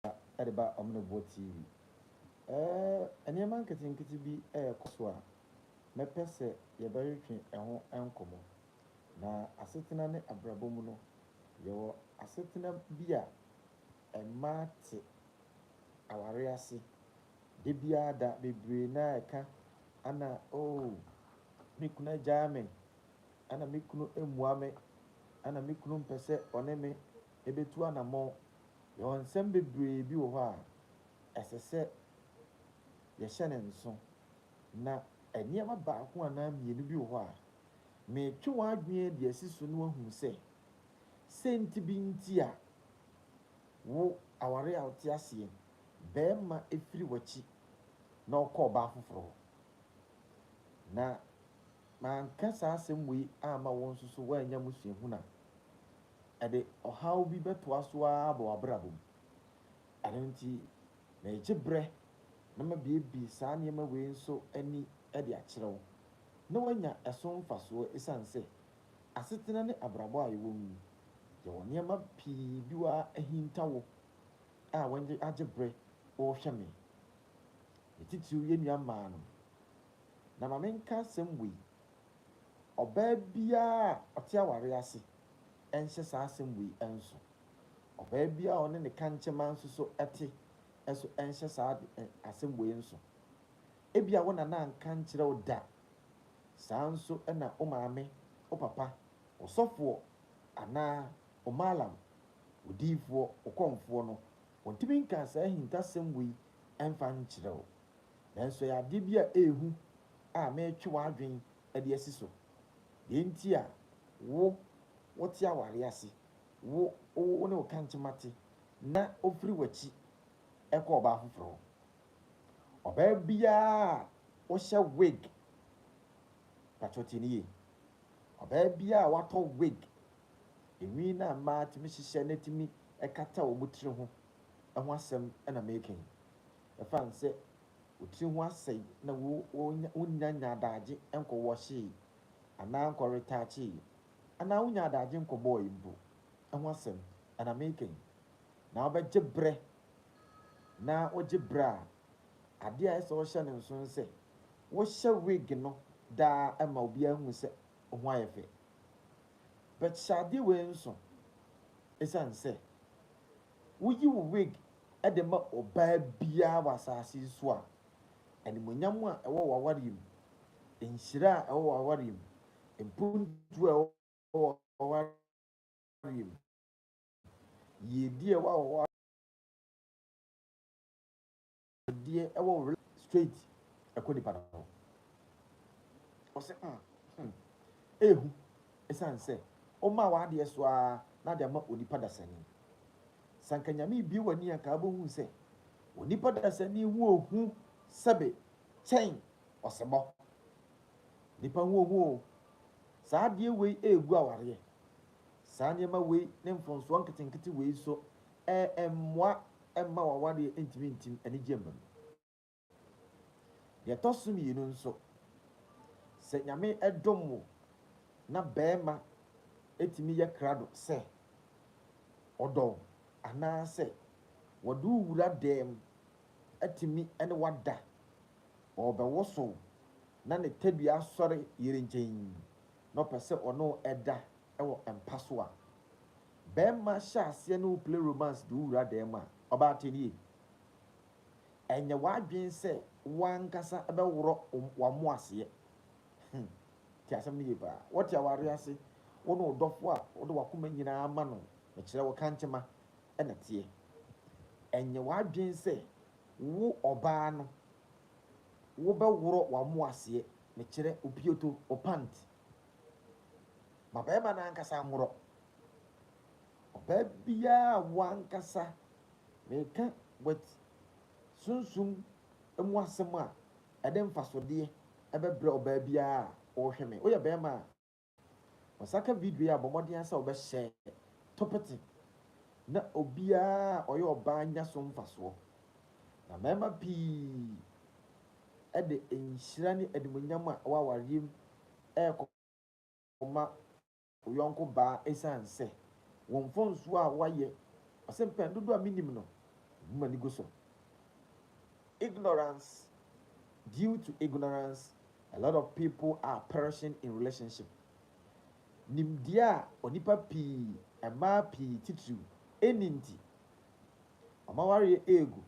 a ɛde ba Ɔmenebɔ TV. Ɛɛ, nneɛma nketenkete bi rekɔ so a mɛpɛ sɛ yɛbɛtwetwe ɛho nkɔmmɔ. Na asetena ne abrabɔ mu no, yɛwɔ asetena bi a mmaa te aware ase da biara da bebree no a ɛka ana oo, me kunu agyaa me, ana me kunu mmua me, ana me kunu mpɛ sɛ ɔne me ebetu anammɔn. Yɛwɔ nsɛm bebree bi wɔ hɔ a ɛsɛ sɛ yɛhyɛ no nso, na nneɛma baako anaa mmienu bi wɔ hɔ a, meretwe w'adwene de asi so na woahu sɛ, sɛ nti bi nti a, wo aware a wote aseɛ, barima firi w'akyi na ɔkɔ ɔbaa foforɔ hɔ. Na Manka saa asɛm wei amma wo nso so woannya mu suahunu a, ɛde ɔhaw bi bɛtoa so ara aba w'abrabɔ mu. Ɛno nti, meregye berɛ na mabuebue saa nneɛma wei nso ani de akyerɛ wo na woanya ɛso mfasoɔ ɛsiane sɛ asetena ne abrabɔ a yɛwɔ mu yi, yɛwɔ nneɛma pii bi wɔ a ahinta wo a w'ani agye berɛ worehwɛ me. Ne titiriw yɛn nua mmaa no. Na ma menka asɛm wei, ɔbaa biara a ɔte awareɛ ase nhyɛ saa asɛm wei nso, ɔbaa biara a ɔne ne kankyema nso so te nso nhyɛ saa ade ɛ, asɛm wei nso. Ebia wo nana anka ankyerɛ wo da, saa ara nso na wo maame, wo papa, wo sɔfoɔ anaa wo maalam, wo diyifoɔ, wo kɔmfoɔ no, wɔntumi nkaa saa ahintasɛm wei mfa nkyerɛ wo. Nanso ɛyɛ adeɛ bi a ɛyɛ hu a meretwe w'adwene de asi so. Deɛ nti a wo, wote awareɛ ase, wo, wo ne wo kankyema te, na ɔfiri w'akyi kɔ ɔbaa foforɔ hɔ. Ɔbaa biara a ɔhyɛ wig, mpakyɛw tie no yie, ɔbaa biara a watɔ wig, nhwi no a mmaa tumi hyehyɛ na ɛtumi kata wɔn tiri ho ho asɛm na mereka yi. Ɛfa ho sɛ wo tiri ho asɛe na wonnya nnya adaagye nkɔwɔhyee anaa nkɔretaakyee anaa wonnya adaagye nkɔbɔɔe mpo ho asɛm na mereka yi, na wobɛgye berɛ na wogye berɛ a, adeɛ a ɛsɛ sɛ wohyɛ no nso ne sɛ wohyɛ wig no daa ma obiara hu sɛ wo ho ayɛ fɛ. But hyɛ adeɛ wei nso ɛsiane sɛ Woyi wo wig de ma ɔbaa biara wɔ asase yi so a, animuonyam a ɛwɔ w'awareɛ mu, nhyira a ɛwɔ w'awareɛ mu, mpontuo a ɛwɔ w'awareɛ mu, yiedie a ɛwɔ w'awareɛ Deɛ ɛwɔ were straight ɛkɔ nipa no ho. Ɔsɛ mm hmm ehu ɛsiane sɛ ɔmaa w'adeɛ so ara na ade ama onipa dasani. Sanka nyame ebue w'ani anka wobɛhu sɛ onipa dasani ho ohu sɛbe kyɛn ɔsebɔ. Nipa ho ohu o. Saa adeɛ wei ɛregu awareɛ. Saa nneɛma wei ne mfomsoɔ nketenkete wei nso ɛmmoa ɛmma w'awadeɛ ntumi ntim anigyeɛ mma mu. Deɛ ɛtɔ so mmienu nso, sɛ Nyame dom wo na barima tumi yɛ krado sɛ ɔdɔ wo anaasɛ wɔde wo wura dɛm atumi ne wo ada, ɔrebɛwosow na ne tadua asɔre yere nkyɛn na ɔpɛ sɛ ɔne wo da wɔ mpa so a, bɛɛma hyɛ aseɛ ne wo play romance de wo wura dan mu a, ɔbaa te nie. Ɛnyɛ w'adwen sɛ wo ankasa bɛ worɔ w'amo aseɛ. Hum, te asɛm no yie paa. Wɔte awareɛ ase, wo ne wo dɔfoɔ a wode w'akoma nyinaa ama no, mekyerɛ wo kantema na teɛ. Ɛnyɛ w'adwen sɛ wo ɔbaa no wo bɛ worɔ w'amo aseɛ, mekyerɛ wo pioto, wo pant, ma barima no ankasa nworɔ. Ɔbaa biara a wo ankasa meka with sunsum mu asɛm a ɛde mfasodeɛ ɛbɛbrɛ ɔbaa biara a ɔrehwɛ me. Woyɛ barima a, ɔsaka video yi a bɔ mmɔden ara sɛ wobɛhyɛ topete na obiara a ɔyɛ ɔbaa nya so mfasoɔ. Na mmarima pii de nhyira ne animuonyam a ɛwɔ awareɛ mu rekɔma wo yɔnko baa ɛsiane sɛ wo mfomsoɔ a woayɛ. Ɔse mpɛn dodoɔ a menim no, mehu m'ani gu so. Ignorance, Due to ignorance, a lot of people are perishing in relationship. Nimdeɛ a onipa pii, mmaa pii titiriw, nni nti, wɔn awareɛ regu.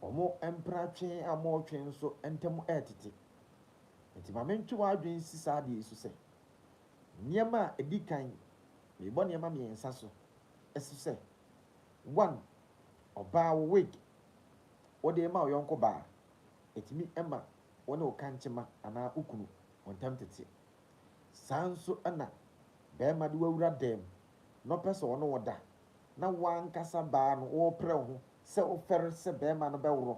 Wɔn mpena twe a wɔretwe nso ntam retete. Enti ma mentwe w'adwene nsi saa ade yi so sɛ, Nneɛma a edi kan, merebɔ nneɛma mmiɛnsa so, so sɛ, One, ɔbaa wo wig, wode rema wo yɔnko baa, etumi ma wo ne wo kankyema anaa wo kunu mo ntam tete. Saa ara nso na barima de wo awura dan mu na ɔpɛ sɛ ɔne wo da, na wo ankasa baa no worepere wo ho sɛ wofɛre sɛ barima no bɛworo,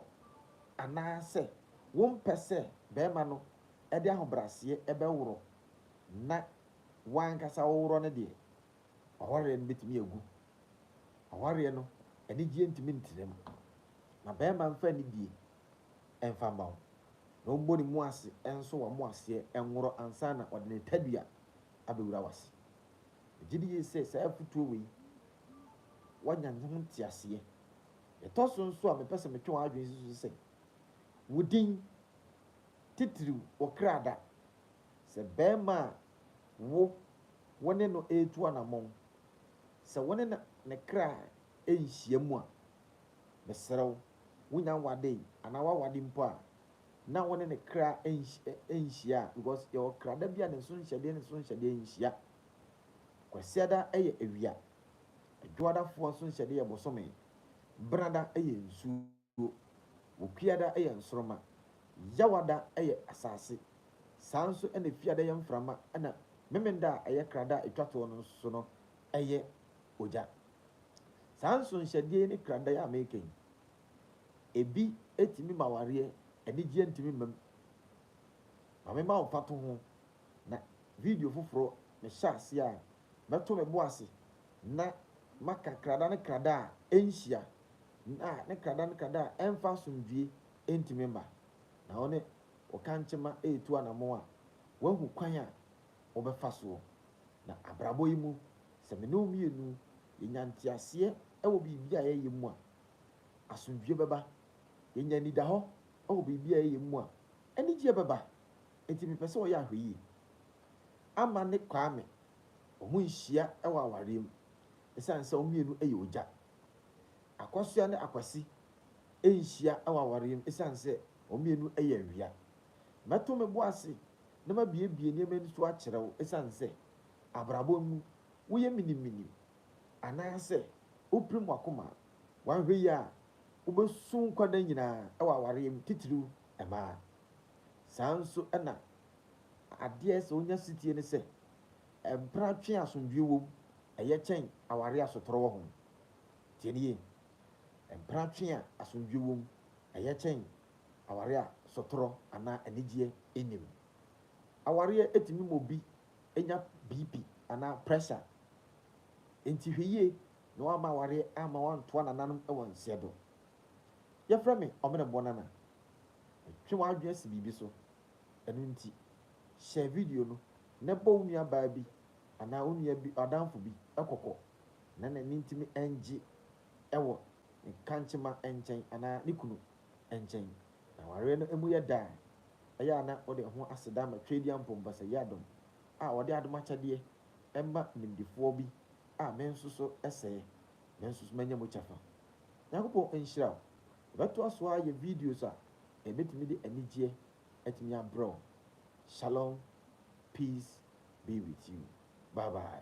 anaasɛ wompɛ sɛ barima no de ahobrɛaseɛ bɛworo na wo ankasa woworɔ no deɛ, w'awareɛ no bɛtumi agu. Awareɛ no, anigyeɛ ntumi ntena mu. Na barima mfa anidie mfa mma wo, na ɔmmɔ ne mu ase nso w'amoaseɛ nworo ansa na ɔde ne tadua abɛwura w'ase. Megye di yiye sɛ saa afotuo wei woanya ne ho nteaseɛ. Deɛ ɛtɔ so nso a mepɛ sɛ metwe w'adwene si so ne sɛ, wo din titiriw wɔ kra da. Sɛ barima a wo wo ne no retu anammɔn, sɛ wo ne no ne kra nhyiam a, mesrɛ wo, wonya aware anaa woaware mpo a, na wo ne ne kra nhyia a, because yɛwɔ krada bi a ne nsonhyɛdeɛ ne nsonhyɛdeɛ nhyia. Kwasiada yɛ awia. Adwoadafoɔ nsonhyɛdeɛ yɛ bosome. Benada yɛ nsuo. Wokuada yɛ nsoroma. Yawada yɛ asase. Saa nso na Efiada yɛ mframa na Memenda a ɛyɛ krada a ɛtwa toɔ no nso no yɛ ogya. Saa nsonhyɛdeɛ yi ne krada yi a meka yi, Ebi tumi ma awareɛ anigyeɛ ntumi mma mu. Ma me ma wo mfatoho na video foforɔ me hyɛ aseɛ a mɛto me bo ase na maka krada ne krada a ɛnhyia na ne krada ne krada a ɛmfa asomdwie ntumi mma. Na wo ne wo kankyema retu anamɔn a woahu kwan a wobɛfa soɔ. Na abrabɔ yi mu sɛ me ne wo mmienu yɛnya nteaseɛ wɔ biribi a yɛyɛ mu a Asomdwoe bɛba. Yɛanya anidahɔ wɔ biribi a yɛyɛ mu a, anigyeɛ bɛba. Enti mepɛ sɛ ɔyɛ ahwɛyie. Ama ne Kwame, wɔnhyia wɔ awareɛ mu ɛsiane sɛ wɔn mmienu yɛ ogya. Akwasoa ne Akwasi nhyia wɔ awareɛ mu ɛsiane sɛ wɔn mmienu yɛ awia. Mɛto me bo ase na mabuebue nneɛma ani so akyerɛ wo ɛsiane sɛ abrabɔ mu woyɛ miniminim Anaasɛ wopirim w'akoma a, woanhwɛ yie a, wobɛsu nkwa nna nyinaa wɔ awareɛ mu, titiriw mmaa. Saa ara nso na adeɛ a ɛsɛ sɛ wonya setie ne sɛ, mpena twe a asomdwoeɛ wom, ɛyɛ kyɛn awareɛ a asotorɔ wɔ ho. Tie no yie, Mpena twe a asomdwoeɛ wom, ɛyɛ kyɛn awareɛ a sotorɔ anaa anigyeɛ nnim. Awareɛ tumi ma obi anya BP anaa prɛsa. Enti hwɛ yie na woamma awareɛ amma woantoa nananom wɔ nseɛ do. Yɛfrɛ me Ɔmenebɔ Nana. Metwe w'adwene asi biribi so. Ɛno nti, hyɛ video no na bɔ wo nuabaa bi anaa wo nua bi adamfo bi kɔkɔ na n'ani ntumi ngye wɔ ne kankyema nkyɛn anaa ne kunu nkyɛn. Na awareɛ no mu yɛ dɛ a, ɛyɛ a na wode wo ho aseda ma Tweedia Mpompasɛyie Adom a wɔde adom akyɛdeɛ ma nimdefoɔ bi a me nso so sɛɛ me nso so manya mu kyɛfa. Nyankopɔn nhyira wo. Yɛbɛtoa so ara ayɛ videos a ɛbɛtumi de anigyeɛ atumi abrɛ wo. Shalom, peace be with you. Bye bye.